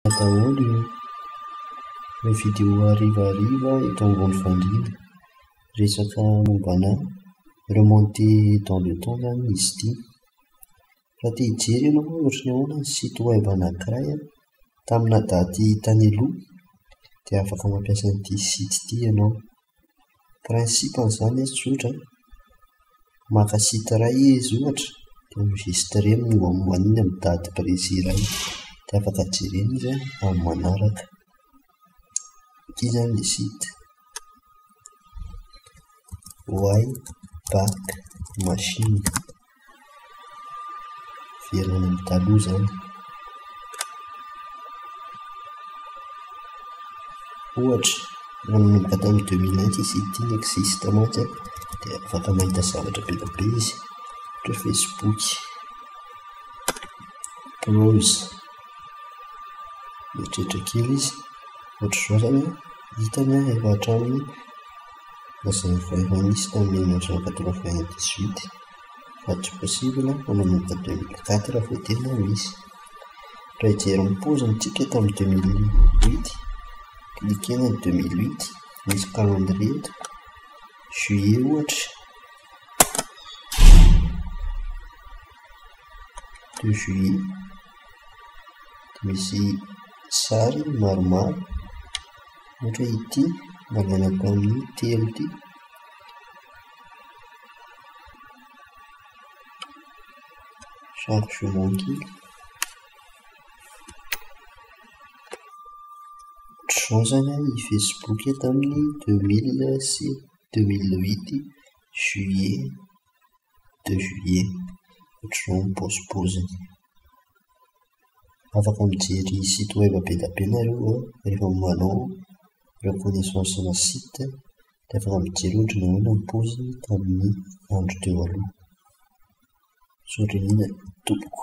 Misaotra daholo io le vidéo hariva hariva eto ambony fandriana, resaka mombanà remonter dans le temps zany izy ity, raha te hijery ianao hoe ohatran'ny ahoana ny site web anankiray a, taminà daty tany aloha, dia afaka mampiasa an'ity site ity ianao. Principe an'izany izy tsotra, maka site iray izy ohatra dia mi-registrer ny mombamomba an'iny amin'ny daty précis iray dia afaka jerena izy an, amin'ny manaraka. Ity izany ilay site, waybackmachine. Miverina any amin'ny taloha izany. Ohatra, nanomboka tamin'ny deux mille un fisian'ny ity Nexiste mantsy an, dia afaka mahita zavatra be dia be izy, ohatra hoe Facebook, Browse, mieritreritra kely izy, ohatr'izao izany an, hitany an efa hatramin'ny. Nazavain'i Ministra Milina Jean quatre-vingt dix huit fa tsy possible fa manomboka deux mille quatre vao tena misy. Raha hijery ny paoziny tsika tamin'ny deux mille huit, ekena ny deux mille huit, misy calendrier eto, juillet ohatra, deux juillet, misy sary maromaro. Ohatra hoe ity mba manako an'io telo ity. Genre jumeau kely. Ohatr'izao izany an, i Facebook tamin'ny deux mille sy deux mille huit juillet, deux juillet. Ohatr'izao ny paozipaoziny. afaka mijery site web be dia be nareo an, rehefa manao reconnaissance ana site dia afaka mijery ohatra nahoana ny paoziny tamin'ny andro teo aloha, misaotra indrindra tompoko.